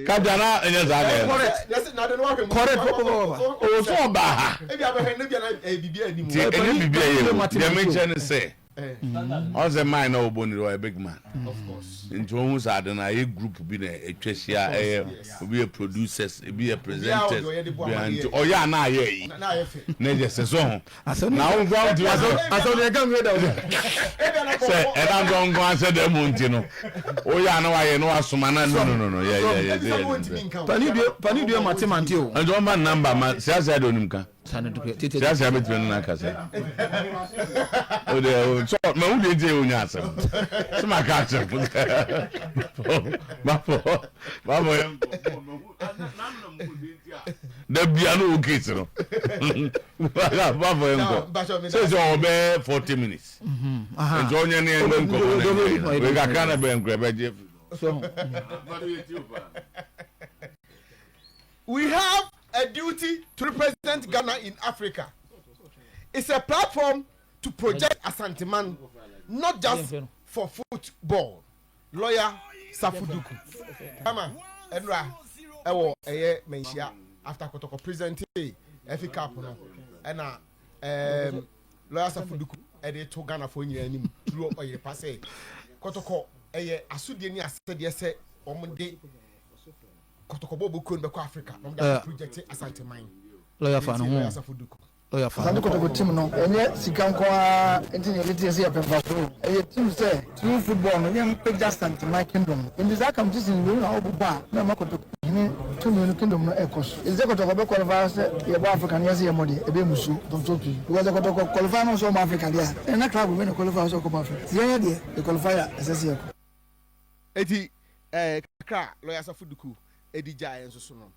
Ka bia na ɛnyɛ saa na ɛyɛ no. Correct papapapa. Oh so ɔbaa ha. Nti ɛnyɛ biribi a ɛyɛ o. Deɛ mekyerɛ ne sɛ ɔn sɛ mine na ɔbɔ niri ɔyɛ big man. Nti wohu saa ade no a ɛyɛ group bi na ɛtwa ahyia ɛyɛ obi yɛ producers ebi yɛ presenters bia nti ɔyɛ a na ayɛ ayi na ɛyɛ fɛ na ɛyɛ sɛ so ho. na wo nkoa wotumi asɛ asɛ ne ɛka nwie dɛm so sɛ ɛda nso nkoa asɛ dɛm mu nti no woyɛ a na wayɛ na wasoma na no no no no yɛ yɛ yɛ sɛ yɛ pani due pani due mate mante o nti wɔmfa namba ma siasia de onim ka siasia bɛtumi no no akasa wode so ma wo deɛ nti yɛ wonya asɛm so ma ka asɛm mafɔ mafɔ yɛ Dabia no wo case no. Bafo yɛ nkɔ. Sɛ sɛ ɔwɔ bɛɛ 40 minutes. Mm-hmm. Nti ɔnyɛ ne ɛnyɛ nkɔmɔ na ɛnyɛ yɛ. Wei kakra na bɛn kura bɛgye. So. We have a duty to represent Ghana in Africa. It's a platform to project Asanteman, not just for football. Lɔya Safo Duku ama nnora wɔ ɛyɛ Manhyia after Kɔtɔkɔ presentee FA Cup no ɛna ɛɛm Lɔya Safo Duku ɛde to Ghanafoɔ nyinaa anim duro ɔyere pa sɛ Kɔtɔkɔ ɛyɛ asodeɛ ne asɛdeɛ sɛ wɔn de Kɔtɔkɔbɔ bɔkuo no bɛkɔ Africa na wɔn de akɔ project Asanteman. Lɔya fa ne ho. Asante Kotoko team no, ɛnyɛ sika nko ara nti na yɛde teɛ sɛ yɛpɛ mfaso o. Ɛyɛ team sɛ, through football no, yɛmpagya Asanteman Kingdom no. Enti saa kamtesini wei na ɔbobɔ a na ɛma Kotoko hene tumi no kingdom no ɛkɔ so. Ɛsɛ sɛ Kotoko bɛ qualify sɛ yɛbɔ Africa no, yɛse yɛmmɔ deɛ, ɛbɛyɛ mmusuo ntɔntɔ pii. Because sɛ Kotoko qualify no sɛ ɔmmɔ Africa deɛ a, ɛnna na club wei na ɛqualify sɛ ɔkɔbɔ Africa. Nti yɛn deɛ, yɛ qualify a, ɛsɛ sɛ yɛkɔ. Enti ɛɛ kakra a Lawyer Asafo Duku ɛdi gyaeɛ nso so no,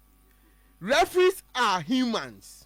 referees are humans.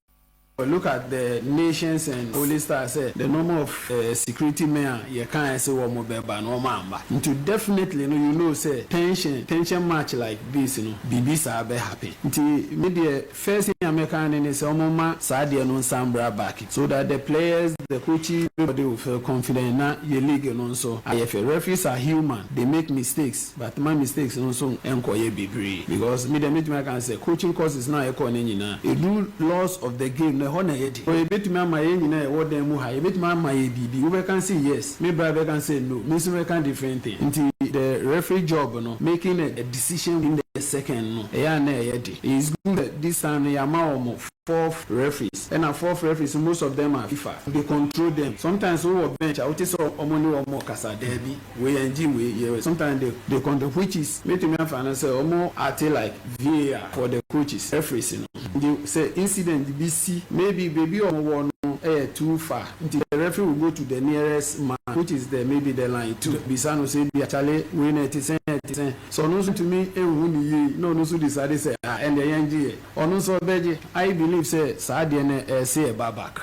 Look at the nations and holy stars sɛ the number of security men a yɛkaeɛ se wɔn bɛba no wɔn amma nti definitely no you know sɛ tension tension match like this no biribi saa bɛ happen nti me deɛ first thing a mɛka ne ne sɛ wɔn mma saa adeɛ no nsan mbra back so that the players the coaches everybody will feel confident na yɛ league no nso ayɛ fɛ referees are human they make mistakes. But ma mistakes no nso nkɔyɛ bebree because me deɛ mɛtumi aka sɛ coaching courses no a yɛkɔɔ no nyinaa ɛdu laws of the game no ɛhɔ na ɛyɛ den. Yɛbɛtumi ama yɛn nyinaa a yɛwɔ dan mu ha yɛbɛtumi ama yɛ biribi wobɛka sɛ yes me bra bɛka sɛ no me nso mɛka different thing nti the referee job no making a decision in the second no ɛyɛ a na ɛyɛ den it's good that this time no yɛama wɔn Fourth referees ɛna fourth referees most of them are fifa they control them sometimes wo wɔ bench a wo te sɛ ɔmo ne wɔn kasa daabi wei yɛn gye wei yɛ wei sometimes they they control which is mɛtumi afa no sɛ ɔmo acte like VAR for the coaches referees no nti sɛ incident bi si maybe baabi ɔmo wɔ no ɛyɛ too far nti the referee will go to the nearest man which is the maybe the line two bisa no sɛ ebia kyale wei na ɛte sɛn ɛte sɛn sɛ ɔno nso ntumi nhu no yie na ɔno nso decide sɛ ah ɛndeɛ yɛn gye yɛ. Ɔno nso ɔbɛgye. I believe sɛ saa adeɛ no ɛɛse ɛba back.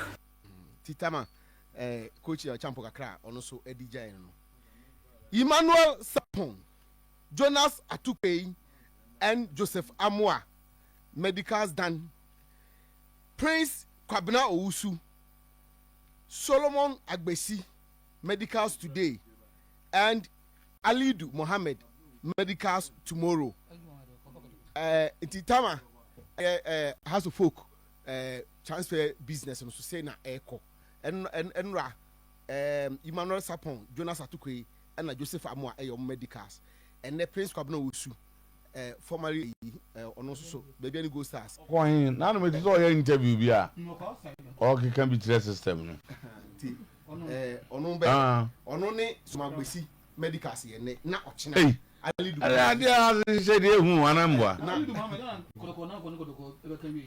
Titama eh coach Ocampo kakra a ɔno nso ɛdi gyae no no. Emmanuel Sarpong, Jonas Atuquei and Joseph Amoah Medicals Dan, Prince Kwabena Owusu, Solomon Agbesi. Medicals Today and Alidu Mohammed Medicals Tomorrow. Eh, nti Tama ɛyɛ eh, House of Folk eh, transfer business no so sɛ na ɛrekɔ. Ɛnora eh, Emmanuel Sapon, Jonas Atukwei, ɛna Joseph Amoa ɛyɛ wɔn medicals. Ɛnɛ Prince Kwabena Owusu eh, formerly eyi, eh, ɔno nso so, baabi a ne gold stars. Ɔkɔ he? Naa no mete sɛ ɔyɛ interview bi a ɔɔkeka bi kyerɛ system no. Nti, eh, ɔno bɛ, Ah. ɔno ne Somagbesi Medicals yɛ nnɛ, na ɔkyena Ei, Ali Dumame. ɛne adeɛ a ahyehyɛ deɛ ehu ana mboa. Na,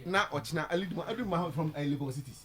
na ɔkyena Ali Dumame, Ali Dumame from eh, Legon Cities.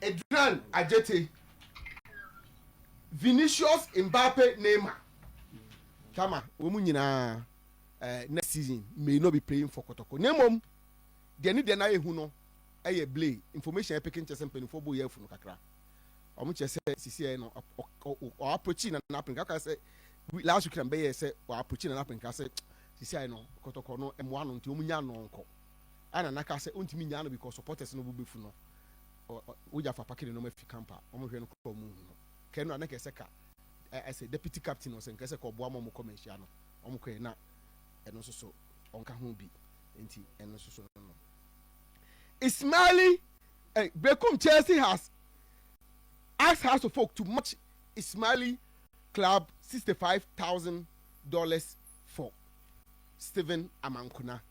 Edran Ajete, Vinicius Mbappe Neymar Tama wɔn nyinaa eh, next season may not be playing for Kotoko na mmom deɛ ne deɛ no ayɛ hu no ɛyɛ ble information a ɛpeke nkyɛ sɛ mpanimfoɔ bɔ yɛ afu no kakra wɔn kyerɛ sɛ sisi ɛyɛ no ɔaprochi na n'apɛnka ɔka sɛ last week na mbɛyɛ sɛ ɔaprochi na n'apɛnka sɛ sisi ɛyɛ no Kotoko no mmoa no nti wɔn nya no nkɔ a Nana kaa sɛ ontumi nyaa no because supporters no bo bɛfu no wogya fa pake ne nɔma fi camp a wɔn hwɛ no kora wɔn hu no kɛɛ no a na kɛɛ sɛ ka ɛsɛ deputy captain ɔsɛ nkɛɛ sɛ ka ɔboa ma wɔn kɔ manhyia no wɔn kɔɛ na ɛno nso so ɔnka ho bi nti ɛno nso so no no Ismaili eh, Berekum Chelsea has asked House of Folk to match Ismaili club $65,000 for Stephen Amankuna.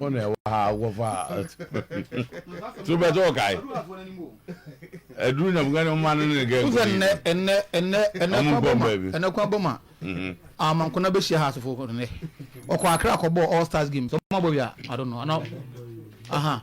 wọn na ɛwɔ ha akɔfa so bɛtɛ ɔkae aduru na mga ne ɔma no ne gɛ wosɛ nnɛ nnɛ nnɛ nnɛ kwan bɔ ma nnɛ kwan bɔ ma amankona bɛhyia ha asefo nnɛ ɔkɔ akra kɔbɔ all stars games ɔma bɔ wia i don't know ana aha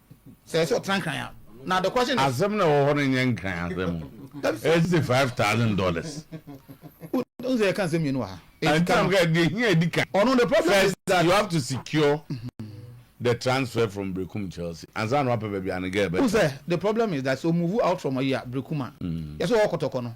Sɛ ɛsɛ ɔtena nkran a, na adekora se ne. Asɛm no a ɛwɔ hɔ no nyɛ nkran asɛm o. Ɛse five thousand dollars. Wohu sɛ yɛka nsɛm mmienu wɔ ha. Ɛnti na meka deɛ hia edi kan. Ɔno the problem is that. First you have to secure the transfer from Berekum Chelsea ansa na wapɛ baabi a ne girl bɛtra. Wohu sɛ the problem is that sɛ o move out from ayi a Berekum a, yɛse ɔwɔ kɔtɔkɔ no.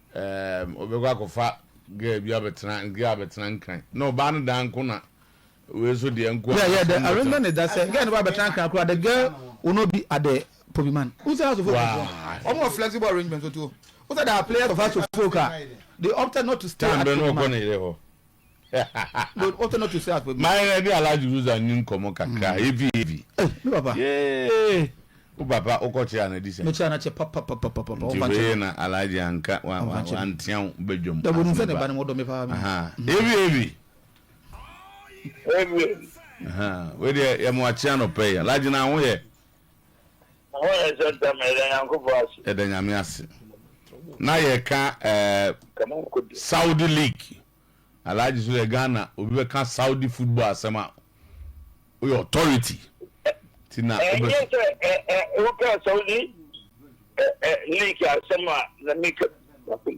Erm ɔbɛkɔ akɔfa girl bi abɛtena girl abɛtena nkran na ɔbaa no dan nko na wei so deɛ nko Yeah, yeah, the arrangement is that sɛ girl no ba abɛtena nkran koraa the girl will not be at the pobi man. Wo sɛ asofo fo nso Why? ɔmo wɔ flexible arrangement nso to. Wo sɛ there are players of asofo folk a they opted not to stay Time at bɛn na pobi ɔkɔ man. ne yere hɔ But what not to say as for me. My ready Alhaji Ruza ni nkɔmɔ kakra mm. heavy heavy. Eh, me papa. Yeah. O papa o kɔ kyerɛ na di sɛ. Me kyerɛ na kyɛ papa papa papa papa. Nti wei na Alhaji anka wa wa wa ntia wo bedwom. Da bonu sɛ ne ba ne mo dɔ me paa. Aha. Mm. Heavy heavy. Heavy. Aha. Wei de yɛ mo akyea no pɛ ya. Alhaji na ho yɛ. Hɔ yɛ sɛ ntɛm, yɛda Nyankopɔn ase. Yɛda Nyame ase. Na yɛka eh, Saudi League. Alhaji so yɛ Ghana, obi bɛka Saudi football asɛm a, woyɛ authority. Ti na wobɛ. Ɛnyɛ sɛ ɛ ɛ woka Saudi ɛ ɛ League asɛm a na meka bi.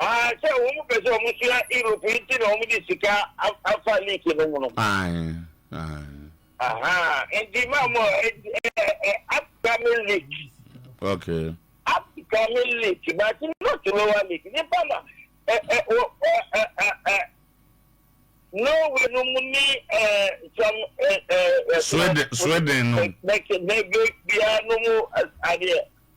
Aah sɛ wɔn pɛ sɛ wɔn sua Europe yi nti na wɔn de sika afa league no mu no. Aye aye. Ahaa nti maa mo upcoming league. Okay. Upcoming league but not lower league nipa na ɛ ɛ wɔ ɛ ɛ ɛ ɛ Norway no mu ni ɛ sɔm ɛ ɛ. Sweden Sweden no. Bɛ bɛ bɛ bia no mu adeɛ.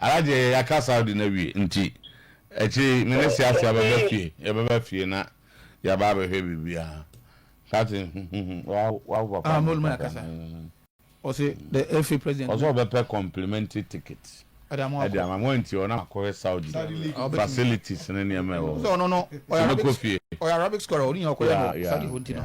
Ara deɛ yɛ yɛaka Saudi no awie nti akyire yi me ne Siasia bɛba fie yɛbɛba fie na yɛaba abɛhwɛ biribiara Kate wawo papa ah, molu maya kasa ɔse the FA president ɔsɛ ɔbɛpɛ complimentary ticket ɛde ama mo nti ɔna akɔhwɛ Saudi facilities ne nneɛma ɛwɔ hɔ sɛ ɔno no ɔyɛ Arabic scorer ɔne nyina ɔkɔyɛ no Saudi hɔ nti no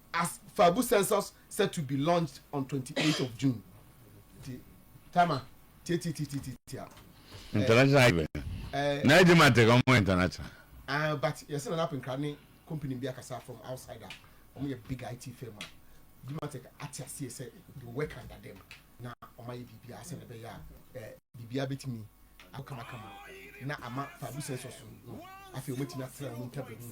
As Fabu census set to be launched on twenty eight of June, the timer tiatitiatiatia. Eh, international even. Eh, na edi ma teka ọmụ international. Ah, but yɛsɛ na n'apɛ nkra ne company bi akasa from outside a wɔn yɛ big IT firm a Dimatek ate aseɛ sɛ they will work under them na wɔn ayɛ biribi a sɛ na ɛbɛyɛ a eh, biribi abɛtumi akɔ kamakama na ama Fabu census no afei wɔn atumi atena wɔn ntaban mu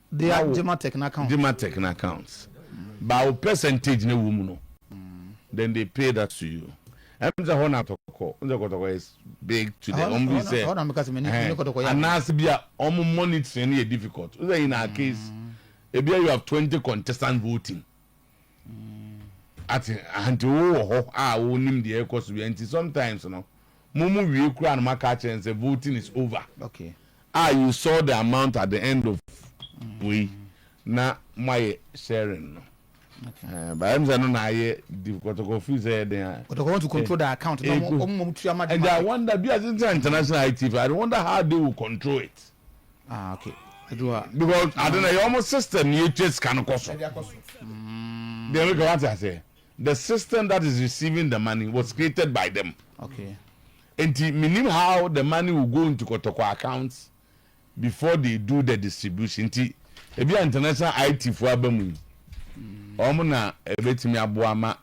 Bia gyematek no account. Gyematek no account ba wo percentage no wɔ mu no then they pay that to you ɛm sɛ hɔ na tɔkɔ n sɛ kɔtɔkɔ is big to the ɔm bi sɛ ɛhɛn anaasɛ bi a ɔm monitoring no yɛ difficult n sɛ in our case ebi a you have twenty contestant voting Ate aha nti wo wɔ hɔ a wo nim deɛ ɛkɔ so bia nti sometimes no mo mo wie koraa no mo aka akyerɛ no sɛ voting is over a you saw the amount at the end of wei na mo ayɛ sharing no ɛɛ but ɛm sɛ ɛno na ayɛ di kɔtɔkɔ firi sɛ yɛ den a kɔtɔkɔ want to control the account na ɔmo ɔmo mo tua ma de ma and I wonder bi a since international IT I wonder how they will control it. Ah, okay. Because ade na ɛyɛ wɔn system ni etwa sika no kɔ so. Mm. Deɛ meka wate aseɛ. The system that is receiving the money was created by them. Okay. Nti menim how the money will go into kɔtɔkɔ accounts before they do the distribution. Nti ebi a international IT fo aba mu yi. Mm. Wɔn na ebetumi aboa ma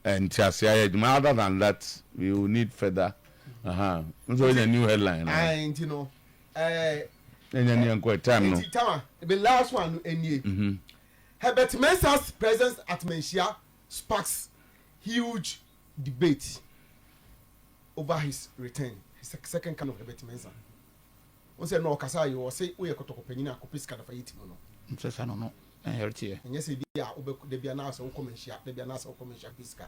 eh, ntiase ayɛ adwuma. Other than that, we will need further. Aha. Nso yɛ new headline. Ayi nti no. Ɛɛ ɛɛ nti Tama the last one no ɛnie Herbert Mensah's presence at Manhyia sparks huge debate over his return his second coming of Herbert Mensah Wo sɛ no ɔkasa yi ɔse woyɛ kɔtɔkɔ panyin a kɔpɛ sika na fa yɛ ti mu no Nsesa no no ɛyɛ teɛ. Ɛnyɛ sɛ bi a wobɛ da bi anaasɛ wokɔ Manhyia da bi anaasɛ wokɔ Manhyia kɔpɛ sika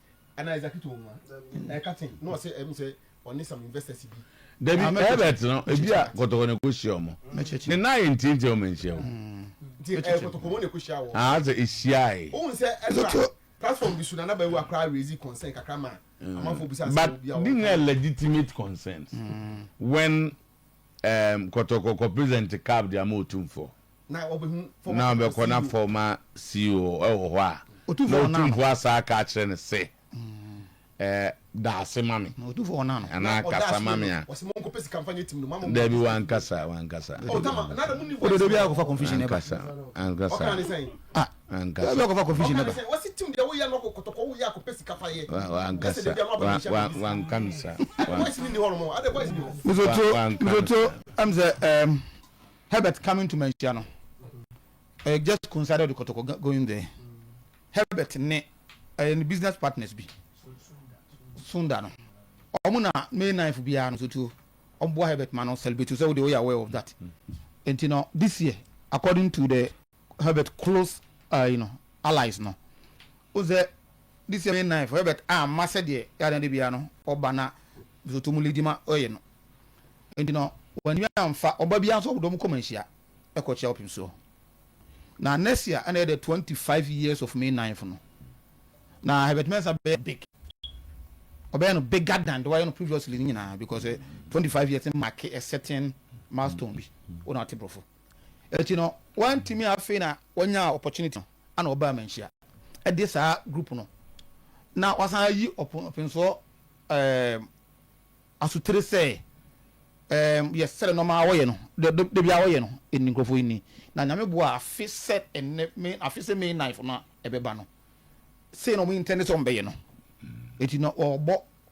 Dabi, Herbert no, ebia kɔtɔkɔ na ɛkɔhyia wɔn. Ne nan ayɛ ntiantia, wɔn anhyia o. Ah, sɛ ɛhyiae. But these nyinaa legitimate concerns. When um, kɔtɔkɔ kɔ present cab de ama Otumfoɔ. na ɔbɛkɔ na fɔma CEO wɔ hɔ a, na Otumfoɔ asan aka akyerɛ no se, Eh, da ase ma me, anaa kasa ma me a. Dabi, wankasa, wankasa. Wankasa, ankasa, ankasa. Wa, wa, wankasa, wa, wanka no saa. Herbert coming to manhyia no ɛyɛ just coincided with kɔtɔkɔ going there Herbert ne ɛyɛ ne business partners bi sunda no wɔn na May 9th biara no sotuo wɔn boa Herbert ma no celebrate so sɛ wo de woyɛ aware of that nti no this year according to the Herbert close uh, you know, allies no. Wohu sɛ this year May 9 for Herbert amma sɛdeɛ yɛade ade biara no ɔba na Lesotho mu lady ma ɔyɛ no. Nti no wantumi amfa ɔba biara nso ɔbɔdɔ mu kɔma nhyia ɛkɔ kyia ɔpem soɔ. Na next year ɛna yɛ the 25 years of May 9 no. Na Herbert Mensah bɛyɛ big. Ɔbɛyɛ no bigger than the wayɛ no previously no nyinaa because 25 years no mark a certain milestone bi. Wona ɔte borɔfo. Enti no wantumi afei na wanyaa opportunity no ana ɔbaa manhyia ɛde saa group no na wasan ayi ɔpensoɔ ɛɛm asotire sɛ ɛɛm yɛ sɛre nɔma wɔyɛ no de bia wɔyɛ no ɛni nkurɔfoɔ ɛni na nyame boa afe sɛ ɛnɛ me afe sɛ May 9 no ɛbɛba no sei na ɔmo intɛnde sɛ ɔmo bɛyɛ no eti na ɔbɔ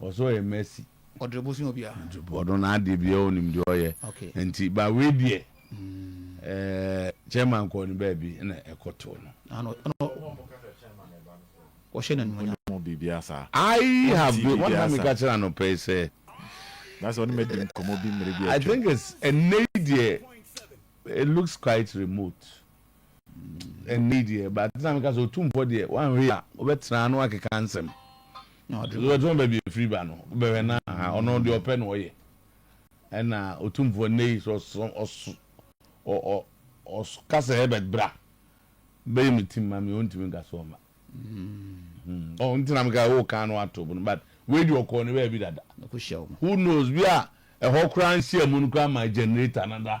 Ɔsɛ ɔyɛ mercy. Ɔdrɛ bosua obiara. Ɔno n'adeɛ biara ɔnim deɛ ɔyɛ nti but wei deɛ ɛɛ chairman kɔɔ ne baabi na ɛkɔ too no. Ɔhyɛ n'animuonyam. I have been wɔn na mi ka kyerɛ anɔpɛ yi sɛ. N'asɛ ɔne mi adi nkɔmɔ bi mmere bi atwam. I think it's ɛnɛ yi deɛ it looks quite remote. Ɛnne deɛ but na meka sɛ otu mpɔ deɛ wanhwɛ a wobɛtena ano akeka nsɛm. Wobɛtena baabi efiri ba no bɛhwɛ na aha ɔno deɛ ɔpɛ na ɔyɛ ɛna otu mpɔ nnɛ yi sɛ ɔso ɔso ɔka sɛ Herbert bra bɛyɛ me team ma me ɔntumi nka sɛ ɔma. Ɔn nti na meka wo kan no ato no but wei deɛ ɔkɔɔ ne baabi dada. Who knows bi a ɛhɔ koraa nhyiamu no koraa ma generator no da.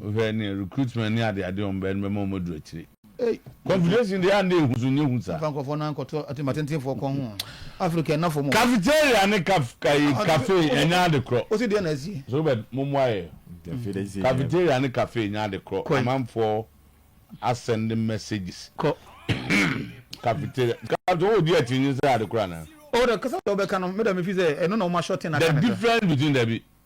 Wohwɛ ne recruitment ne ade ade wɔn bɛyɛ no bɛma wɔn aduru akyire. Confederation deɛ ande ehu so nyɛ hu saa. Yɛmfa nkurɔfoɔ nan nkɔto atim atentenfoɔ kɔn ho. Africa ɛnafo mo. Cafeteria ne kaf kayi cafe ɛnyɛ ade korɔ. Wosi deɛ na asie. Robert mommoa yɛ. Cafeteria ne cafe ɛnyɛ ade korɔ. Amanfoɔ asɛnde messages. Kɔ. Cafeteria nka to wodi akyinnye sɛ ɛyɛ ade korɔ anaa. Oh da kasa deɛ wobɛka no meda mefiri sɛ ɛno na woma shorten aka no kakra. The difference between dabi.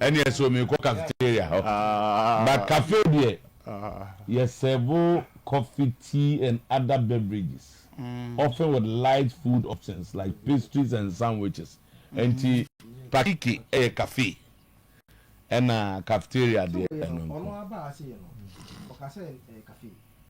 Ɛneɛ so mekɔ cafeteria hɔ but cafe deɛ yɛ serve coffee, tea and other beverages often with light food options like pastries and sandwiches nti Pakiki yɛ cafe ɛna cafeteria deɛ ɛno nko.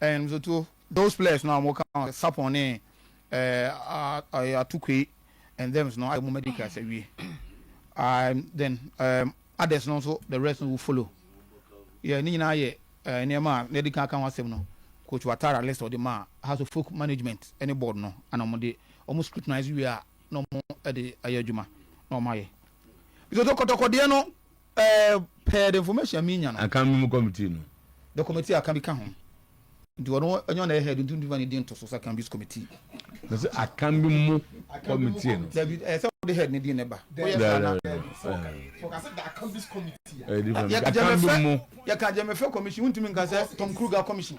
Ɛn nso to those players no a wɔka Sapon ne ɛɛ Atuquei and thems no ayɛ mo medicals awie. Um, then um, others no nso the rest no will follow. Yɛ ne nyinaa yɛ ɛɛ nneɛma a n'adi kan aka ho asɛm no. Coach Watara list ɔde maa House of Folk Management ne board no ana wɔn de wɔn scrutinize wie a na wɔn de ayɛ adwuma na wɔn ayɛ. Nso to kɔtɔkɔdeɛ no. Eh per the information a me nya no. Akan no mu committee no. The committee a Akan bi ka ho. Nti ɔno ɛnyɛ ɔna yɛ head nti ntumi fa ne din nto so sɛ Akan bi's committee. Me se Akan bi mu committee no. Dabi ɛyɛ sɛ wode head ne din na ɛba. Woyɛ saa na. Sɛ ɔka sɛ the Akan bi's committee a. Ɛyɛ different. Akan bi mu. Yɛka Gyamɛfɛ commission wontumi nka sɛ Tom Kruger commission.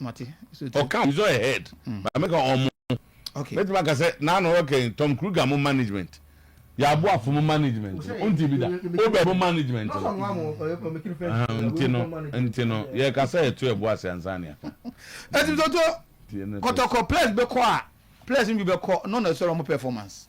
Ɔka He's not a head, but mɛka ɔmo. Mɛtumi aka sɛ naa na ɔyɛ ɔkɛn Tom Kruger mo management, Yaboafo mo management no, wonte bi da? Uber mo management no. Ahaa, nti no, nti no, yɛreka sɛ ɛto ɛbo ase ansa na yɛaka. Ɛti Toto, kɔtɔkɔ, players bɛkɔ a, players no bi bɛkɔ, no na ɛsɔre ɔmo performance.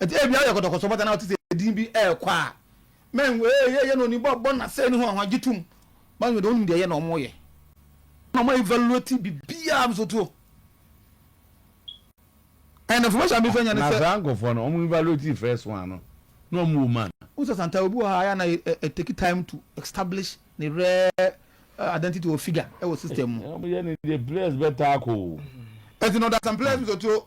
Ɛti ebi ayɛ kɔtɔkɔtɔ bata na ɔte sɛ edin bi ɛrekɔ a. Mɛn wee yɛ yɛ na oni bɔ bɔ na sɛ ne ho ahoa gye tum. Ba nyɛ de onim deɛ yɛ na ɔmo yɛ. Na ɔmo evaluate bibia nso tuo. And information mi fɛ nya ne sɛ. Na saa nkɔfoɔ no ɔmo evaluate first one no na ɔmo wɔ mu ana. Wohu sɛ santaa obi wɔ ha a ɛyɛ na ɛ take time to establish ne rare identity or figure ɛwɔ system mu. Ɔmo yɛ ne deɛ players bɛtaa kɔ o. Ɛti na ɔda some players mu so tuo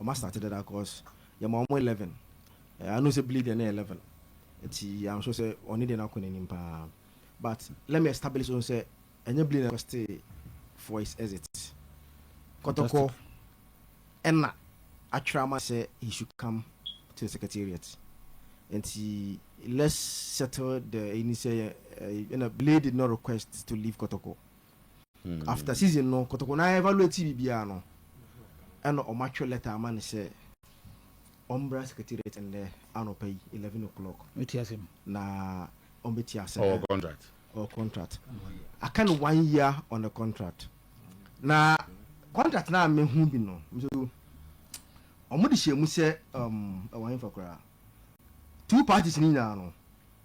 Ɔmo astate dada cos yɛma ɔmo eleven I know sɛ Billy deɛ ne yɛ level nti I'm sure sɛ ɔne deɛ no akɔ n'anim paa but let me establish on sɛ ɛnyɛ Billy na requested for his exit Kɔtɔkɔ ɛna atwerɛ ama sɛ he should come to the secretariat nti let's settle the ɛni sɛ ɛna Billy did not request to leave Kɔtɔkɔ After season no kotoko na evaluate biribiara no ɛna ɔmo atwerɛ letter ama no sɛ ɔmbra secretariat ndɛ anɔpa yi eleven o'clock na ɔmbɛti asɛm no. Ɔwɔ contract. Ɔwɔ contract. Aka no one year on the contract. Na contract no a mehu bi no Mr Odu, ɔmo de hyɛɛ mu sɛ um, ɛwɔ henfa koraa? Two parties no nyinaa no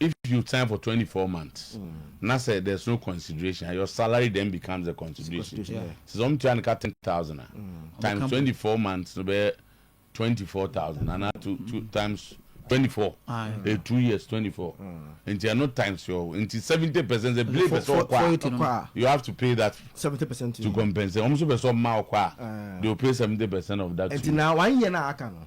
If you sign for twenty four months na sɛ there's no consideration a your salary then becomes the consideration te sɛ ɔmo tua no ka ten thousand a times twenty four months no bɛyɛ twenty four thousand ana two two times twenty four ɛyɛ two years twenty four nti ɛno times your nti seventy percent sɛ bile pɛ sɛ ɔkɔ a you have to pay that seventy percent to compensate ɔmo nso pɛ sɛ ɔmo ma ɔkɔ a they will pay seventy percent of that nti na one year na aka no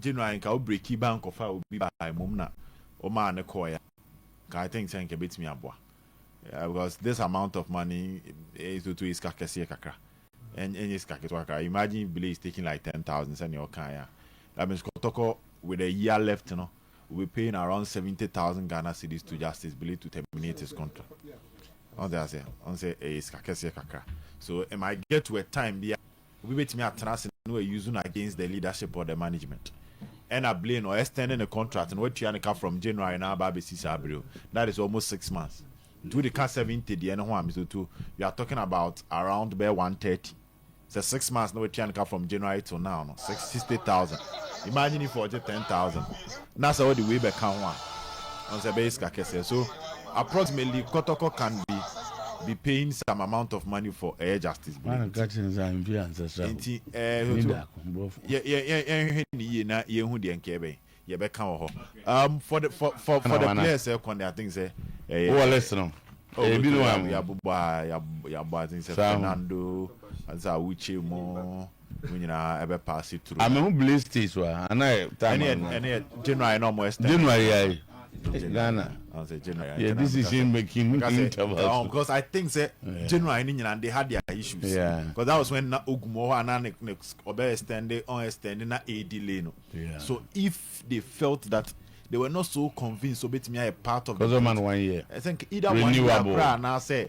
Gye no ara nka wo breki ba nkɔfaa obi baa mmom na womaa no kɔɔe a, nka I think sɛ nka ɛbɛtumi aboa because this amount of money is to to sika kɛseɛ kakra ɛnyɛ sika ketewa kakra imagine if Billy is taking like ten thousand sɛdeɛ ɔkaeɛ a that means kɔtɔkɔ with a year left no will be paying around seventy thousand Ghana cedis to Justice Billy to terminate his contract ɔn sɛ aseɛ ɔn sɛ ɛyɛ sika kɛseɛ kakra so it might get to a time bi a Obi bɛtumi atena ase na wa use no against the leadership or the management ɛna blame no ɔ extend ne contract no watua ne ka from January na aba abɛsi saa bere o that is almost six months nti wode ka seventy deɛ no ho a Mr Otuo you are talking about around bɛyɛ one thirty sɛ six months na watua ne ka from January till now no six sixty thousand imagine if ɔgye ten thousand. Na sɛ wɔde wei bɛka ho a, ɔn sɛ ɛbɛyɛ sika kɛseɛ. So approximately kɔtɔkɔ can be be paying some amount of money for ɛyɛ justice bere nti. Nti ɛɛ so yɛ yɛ yɛ yɛnhwɛ ne yie na yɛnhu deɛ nka yɛbɛn yɛbɛka wɔ hɔ. Um, for the for for for the players ɛkɔ ne I think sɛ ɛyɛ. Wɔ list no. Ɛyɛ bi no wa mu. Yabobɔ a yabɔ yabɔ I think sɛ Fernando, ansa Uche mo. Ɔmo nyinaa ɛbɛ paase tru ha. Amehu Blaze States wa ana ɛ time a no. Ɛne yɛ January na ɔmo extend. January ai eh Ghana yɛ decision making interval so. Cos I think sɛ January no nyinaa no they had their issues cos that was when na Ogum wɔ hɔ a na ne ne ɔbɛ extend ɔn extend na ɛyɛ delay no so if they felt that they were not so convinced sɛ ɔbɛtumi ayɛ part of the vote I think either one year koraa anaasɛ.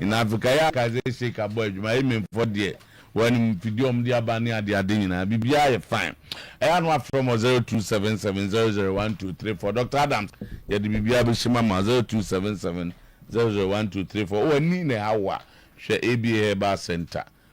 Na afe kae a kae sɛ sheik abɔ adwuma yemenfoɔ deɛ wɔn mfidie a wɔn de aba ne ade ade nyinaa biribiara yɛ fine ɛyɛ a na wafrɛ mɔ zero two seven seven zero zero one two three four Doctor Adams yɛde biribiara bɛhyɛ mu ama wo zero two seven seven zero zero one two three four wɔ ani na ɛha wo a hwɛ ABA herbal center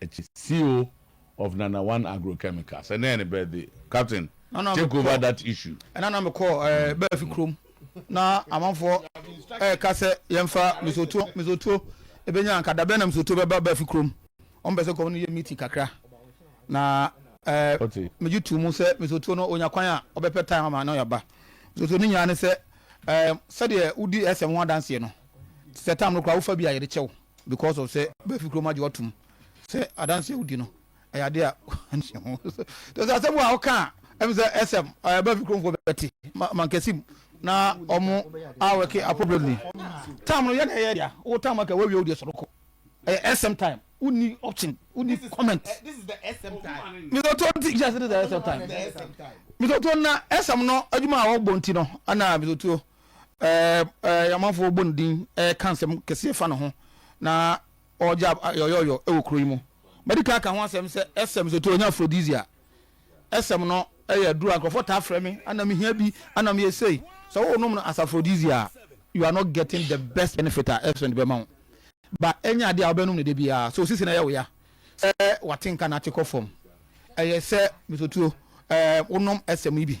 akyi. Ceo of Nana One Agro Chemicals. Ɛnɛ yɛ ne birthday. Captain, take over that issue. Ɛna na me kɔ Baafi kurom na amanfoɔ ɛka sɛ yɛnfa misuotuo misuotuo ɛbɛnya anka dabɛn na misuotuo bɛba Baafi kurom. Wɔn pɛ sɛ nkɔfoɔ no yɛ meeting kakra na ɛɛ megye tuu mu sɛ misuotuo no onya kwan a ɔbɛpɛ time ama na ɔyɛba. Misuotuo no nyinaa ne sɛ ɛɛ sɛdeɛ wodi ɛsɛm ho adanseɛ no sɛ tam no koraa wofa bi a yɛde kyɛw Because of sɛ bɛfi kurom agye wɔtom sɛ adanse a wodi no ɛyɛ ade a nhyɛ ho. Te sɛ asɛm a woka a ɛm sɛ ɛsɛm ɛyɛ bɛfi kuromfoɔ bɛte mankɛse mu na ɔmo awɛke appropriately. Time no yɛ na ɛyɛ dea, wo time aka woawie wo deɛ sɔre kɔ. Ɛyɛ ɛsɛm time, wonni option, wonni comment. Mesɛ to nti kyɛ sɛ this is ɛsɛm time. Mesɛ to na ɛsɛm no adwuma a wɔbɔ nti no ɛna mesɛ tuo. Ɛɛ, amanfoɔ bɔ ne din ka nsɛm kɛseɛ fa ne ho, na ɔregye ayɔyɔyɔ wɔ kuro yi mu. Madi kan aka ho asɛm sɛ ɛsɛm sɛ ɛtɔ nya aphrodisia. Ɛsɛm no yɛ aduro a nkurɔfoɔ taa frɛ me, ana mehia bi, ana meyɛ sei. Sɛ wonom no as aphrodisia a, you are not getting the best benefit a ɛsɛm no de bɛma wo. Ba ɛnyɛ adeɛ a wobɛnom no da biara, sɛ osisi no ɛyɛ wo ya, sɛ wate nka na ate kɔ fam. Ɛyɛ sɛ, Mr. Otuo, ɛɛ, wonom ɛsɛm yi bi.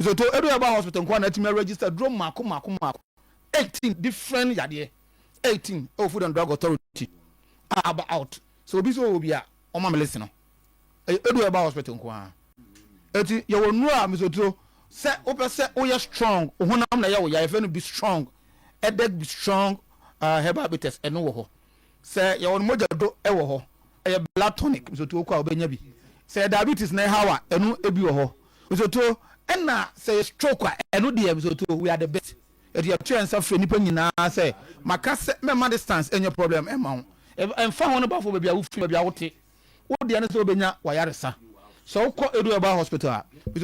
Nso to edu herbal hospital nkoa na atumi a register duro mmaako mmaako mmaako eighteen different yadeɛ eighteen ɛwɔ food and drug authority a aba out sɛ obi sɛ ɔwɔ bi a ɔma melesi no ɛyɛ edu herbal hospital nkoa eti yɛwɔ nnuro a mesoturo sɛ wopɛ sɛ woyɛ strong ohonam na yɛ wo ya yɛfɛ no be strong ɛdɛk be strong uh, herbal bitters ɛno wɔ hɔ Sɛ yɛwɔ no mogya do wɔ hɔ, ɛyɛ blood tonic, nsotuo kɔ a wobɛnya bi. Sɛ yɛ diabetes na ɛhaw a, ɛno bi wɔ hɔ, nsotuo. Ɛna sɛ yɛ stroke a, ɛno deɛ nsotuo, we are the best. Ɛti yɛto yɛn nsa frɛ nnipa nyinaa sɛ, maka sɛ mɛma distance ɛnyɛ problem ɛma wo. Ɛmfa ho ne bafo baabi a wofiri, baabi a wote. Wo deɛ ne sɛ wobɛnya w'ayaresa. Sɛ wokɔ Edu Herbal Hospital a,